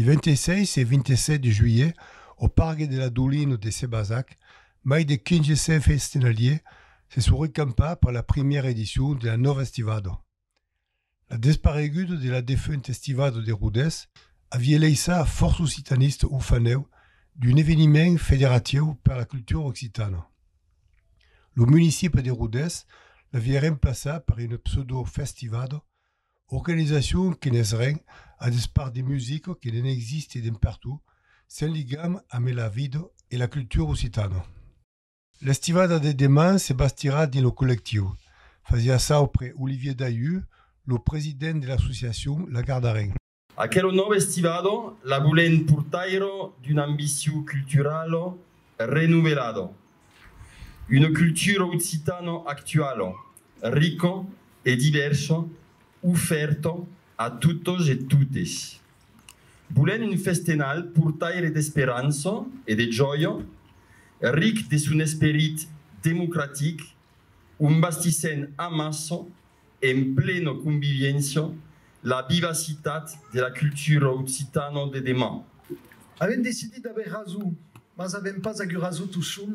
Li 26 e 27 de juilhet, au Pargue de la Doulina de Sébazac, mai de 1500 festinaliers se son recampats per la primièra edicion de la Nova Estivada. La despareguda de la defunta Estivada de Rodés avié laissat a fòrça occitanistes orfaneu d'un eveniment federatiu per la cultura occitana. Lo municipi de Rodés l'avié remplaçat per una pseudo-festivada, organizacion que n'es ren a despart de musica que ne'n existe dempertot, sen ligam ame la vida e la cultura occitana. L'estivada de deman se bastirà dins lo collectiu, fasiá saupre Olivier Daillu, lo president de l'associacion La Gardarenc. Aquelo nòu estivado la volèn portaire d'un ambiciu cultural renovelado, una cultura occitana actuala, rica e diversa ofèrta a totes e totes. Volent un festenal portaire d'esperança e de jòia, ric de son esperit democratic, ont bastissèn amassa, en plena conviviéncia, la vivacitat de la cultura occitana de deman. Avèm decidit d'aver rason, mas avèm pas agut rason tosson.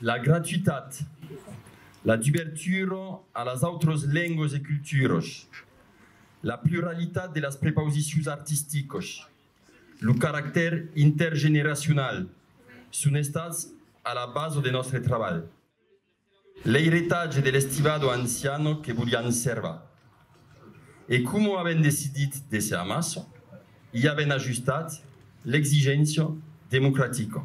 La gratuitat, la dubertura a las autras lenguas e culturas, la pluralitat de las prepausicions artisticas, lo caractèr intergeneracional son estats a la basa de nòstre trabalh. L'eiretatge de l'Estivado Anciano que volián servar. E coma avèn decidit d'èsser amassa, i avèn ajustat l'exigéncia democratica.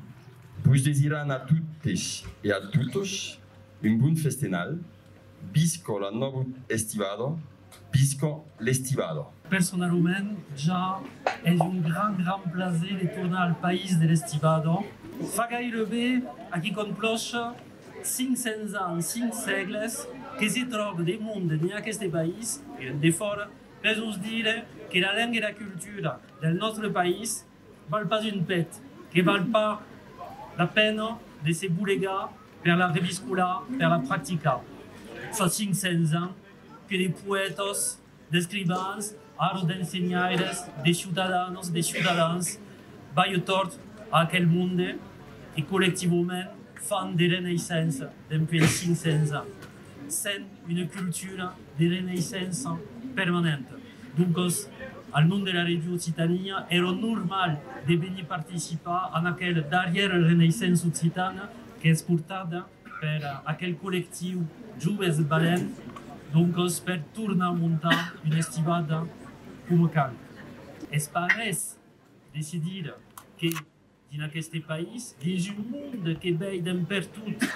Vos desiran a totes e a totes un bon festenal, visca la nòva estivada, visca l'estivada! Personalament, ja es un gran gran plaser de tornar al país de l'estivada. Fa gaire bé, aquí con plòcha, Cinc cents ans, cinc sègles que se tròbe de monde dins aqueste país e en defòra per nos dire que la lenga e la cultura del nòstre país val pas un pet, que val pas la pena de se bolegar per la reviscolar, per la practicar. Fa cinc cents ans que de poètas D'escrivans, ara d'ensenhaires, de ciutadanos, de ciutadans, balhe tòrt a aquel monde que collectivament fan de reneissença dempuèi 500 ans, sent una cultura de reneissença permanenta. Doncas, al nom de la Ràdio Occitània, èra normal de venir participar en aquela darrièra reneissença occitana qu'es portada per aquel collectiu Joves Balents, doncas per tornar montar una estivada coma cal. Es pas res de se dire que dins aqueste país, dins un monde que vei d'en pertot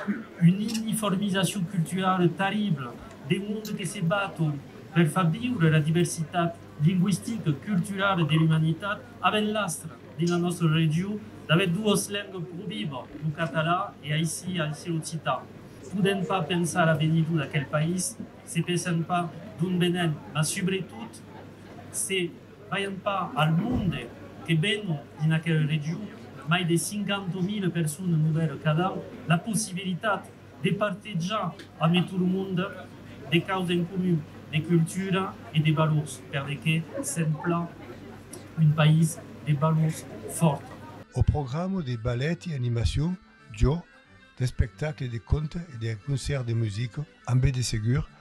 una uniformizacion culturala terribla, de monde que se baton per far viure la diversitat lingüistica, culturala e de l'umanitat avèn l'astra dins la nòstra region d'aver doas lengas pro viva, lo catalan e aicí aicí l'occitan. Podèm pas pensar l'avenidor d'aquel país se pensèm pas d'ont venèm, mas subretot se veiam pas al monde que venon dins aquela region, mai de 50.000 personas novèlas cada an, la possibilitat De partejar a me tot lo monde de causa en comun, de cultura e de valors, per de que sèm plan un país de valors fòrta. Au programa de ballet e animacion, jo, d'espectacle de conte e d'un concèrt de musica, ambe de segur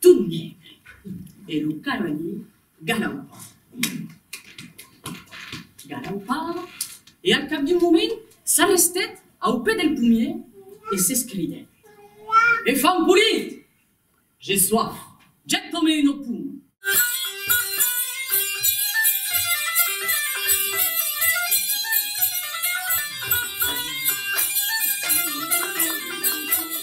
Tot negre, e lo cavaller galaupa, galaupa, e al cap d'un moment s'arrestèt au pè del pomier e s'escridèt, E fan polit! J'ai soif, jèt coma un opum!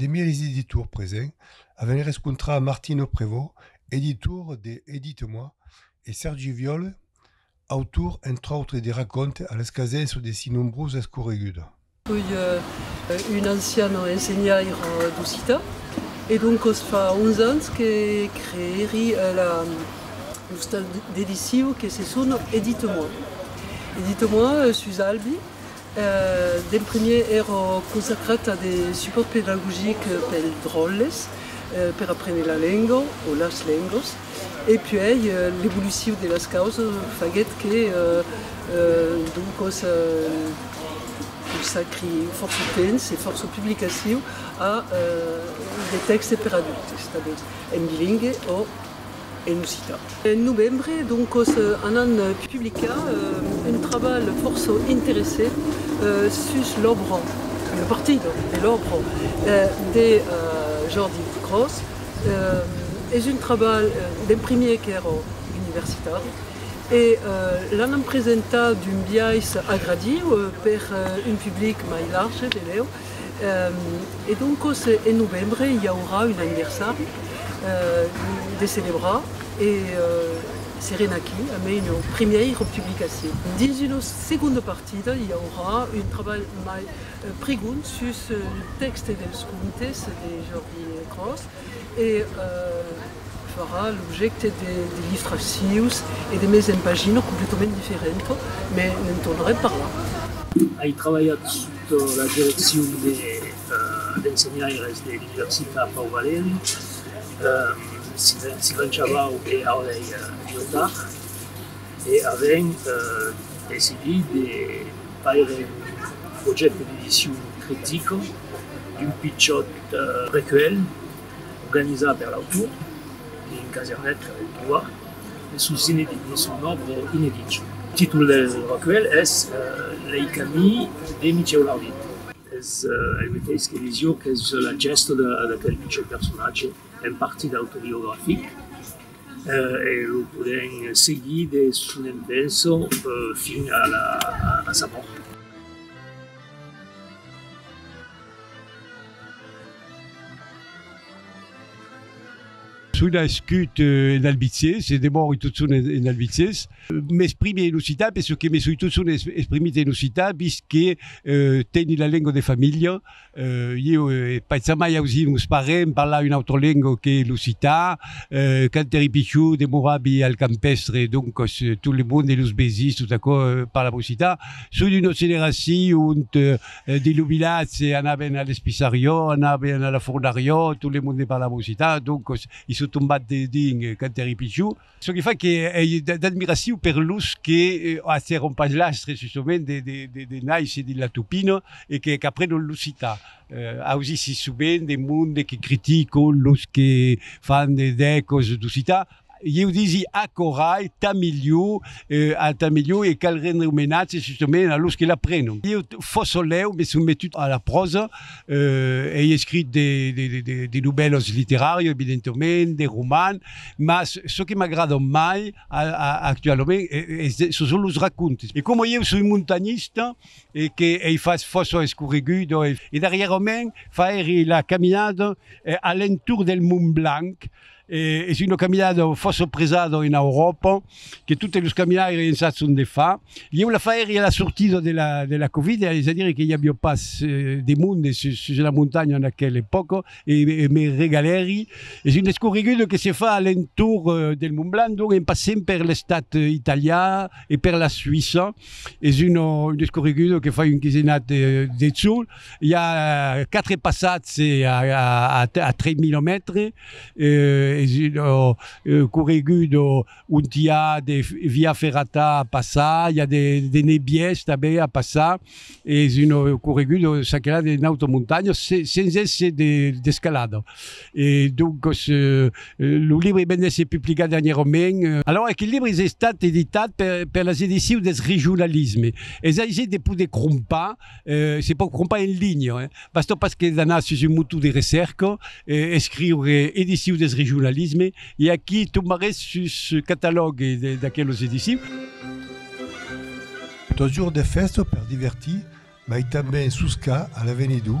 De miris d'editors presents avèn rescontrat Martino Prevot, editor de Edite-moi, e Sèrgi Viòl, autor, entre autres, de racòntes a l'escasença de si nombrosa escorreguda. Soi un ancian ensenhaire d'occitan e doncos fa 11 ans que creèri la l'ostal d'edicion que se sona Edite-moi. Edite-moi sus Albi D'en primièr èra consacrata de supòrt pedagogic pels dròlles per aprene la lenga o las lengas e puèi l'evolucion de las causas faguèt que doncas consacri fòrça temps e fòrça publicacion a de tèxtes per adultes tanben en bilingue o en occitan. En novembre, doncos, anam publicar un trabalh fòrça interessent sus l'òbra, una partida de l'òbra, de Jordi Gros. Es un trabalh d'en primièr qu'èra universitari e l'anam presentar d'un biais agradiu per un public mai large, benlèu. E doncos en novembre i aurà un anniversari de celebrar e serem aquí amé una primièira publicacion. Dins una segonda partida i aurà un trabalh mai prigond sus lo tèxte dels contes de Jordi Cros e farà l'objècte de liftres sieus e de mes en pagina completament diferenta, mes ne'n tornarem parlar. Ai trabalhat Sota la direccion dels ensenhaires de l'Universitat Pau Valeri, Sylvain Chabau e Aurèle Liotard, e avèm decidit de faire un projècte d'edicion critica d'un pichòt precuèlh, Organizat per l'autor e un casernet per l'entolar de son òbra inedit. Lo títol del recuèlh es Lei camins de Michèu Larvit. Es el meteis que Lisiòc, es la gèsta d'aquel pichon personatge, en partit autobiografic, e lo podèm seguir de son envènça fin a sa mòrt. Son nascut en Albizier, se demòri totson en Albizier. M'exprimi en occitan per çò que me soi totson exprimit en occitan, vist que teni la lenga de familha. Ieu è pas jamai ausir meus parents parlar una autra lenga que l'occitan. Quand èri pichon demoravi al campèstre, doncas tot le monde, los vesins, tot aquò, parlava occitan. Son d'una generacion ont Dins lo vilatge anaven a l'Espissariò, anaven a la Fornariò, tot le monde ne parlava occitan, doncos i son tombat dedins quand èri pichon. Çò que fa qu'èi d'admiracion per los que acièron pas l'astre sussoment de naisser dins la Tupina e qu'aprenon l'occitan. Ausi sissoment de monde que criticon los que fan dècos d'occitan, Ieu disi aquò rai tà milhor, a tà milhor e cal rendre omenatge justament a los que l'aprenon. Ieu Fossolèu m'ai sometut a la pròsa, ei escrit de de novèlas literàrias evidentement, de roman, mas çò que m'agradan mai actualament çò son los racontes. E coma ieu soi montanhista e que ei fach fòrça escorreguda e darrièrament fairi la caminada a l'entorn del Mont Blanc, Es una caminada fòrça presada en Euròpa, que totes los caminaires en sason de far. Ieu la faèri a la sortida de la Covid, es a dire que i aviá pas de monde sus la montanha en aquela epòca e me regalèri. Es una escorreguda que se fa a l'entorn del Mont Blanc, donc en passent per l'estat italià e per la Suïssa. Es una escorreguda que fa un quisenat de jorn. I a quatre passats a 3 milomètres, es un corregut ont i a de via ferrata a passar, i a de nebièrs tanben a passar, es un corregut çaquelà de nauta montanha sens èsser d'escalada. E doncas lo libre ven d'èsser publicat dernierament. Alòra aquel libre es estat editat per las Edicions deth Regionalisme. Es aisir de poder crompar Eh, se pòu crompar en linha, eh? Bastó pas que d'anar sus un motor de recèrca e escriure Ediciu deth regionalisme e aquí tombarés sus catalòg d'aquelos edicius. Totjorn de fèsta per divertir, mai tanben suscar a l'avenidor,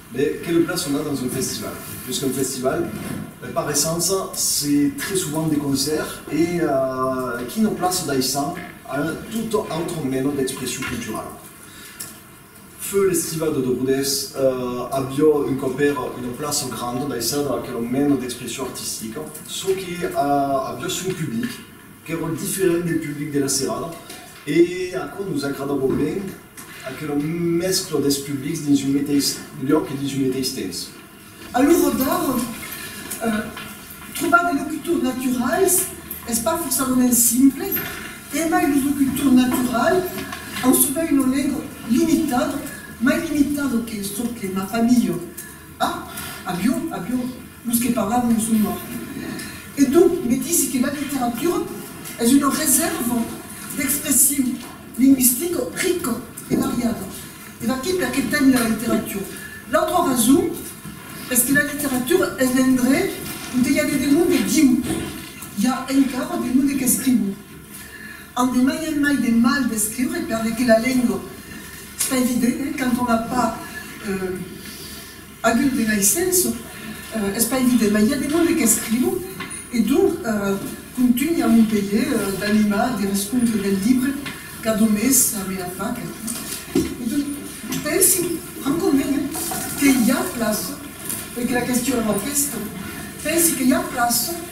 Be, que le plat sona dans un festival. Plus qu'un festival, per paressença, se très souvent de concèrt e qui no place daissant a un tot autre meno d'expression culturala. Feu l'estiva de Dogodés avió un còp era una plaça granda daissada a aquelo meno d'expression artistica, çò que avió son public, qu'èra diferent del public de la Serrada e aquò nos agradava ben Aquela mescla dels publics dins un meteis lhòc e dins un meteis temps. A l'ora d'ara, trobar de locutors naturals es pas forçadament simple, emai los locutors naturals an sovent una lenga limitada, mai limitada que çò que m'a pas milhor. Ah! Avion, avion, los que parlan lo son mòrt. E tu me disi que la literatura es una resèrva d'expression lingüistica rica e variada. E vaquí perqué tèn la literatura. L'autra rason es que la literatura es l'endrech onte i a de demonde viu. I a encara demonde qu'escrivon. An de mai en mai de mal d'escriure perle que la lengua, es pas evident, eh, quand on a pas agut de naissença, es pas evident, mas i a de monde qu'escrivo e donc contunhi a Montpelhier d'animar de rescontres del libre cada mes a mena fac e donc pensi francament, eh, que i a plaça, perque la question èra aquesta, pensi que i a plaça.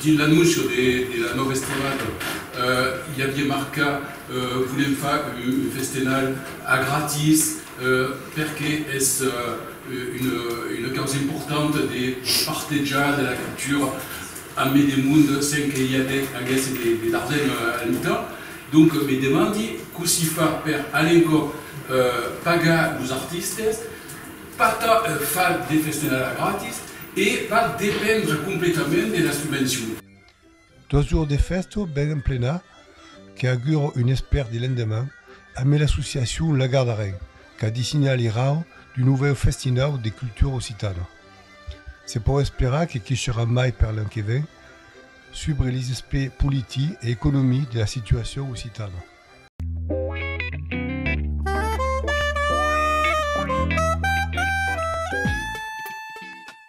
Dins l'anóncio de la nòva estirada i aviá marcat Volem far un festenal a gratis perque es una causa importanta de partejar de la cultura a mai de mond sens que i aguèsse de l'argent al mitan. Donc me demandi cossí far per alencòp pagar los artistes, pas tant far de festenal a gratis, E va dependre completament de la subvencion. Dos jours de fèsta ben emplena que augura un espèr de lendeman amé l'associacion La Gardarin qu'a dissinat l'irau d'un novèu festinau de cultura occitana. Se pòu esperar que quisherà mai per l'an que ven subre les aspè politi e economi de la situacion occitana.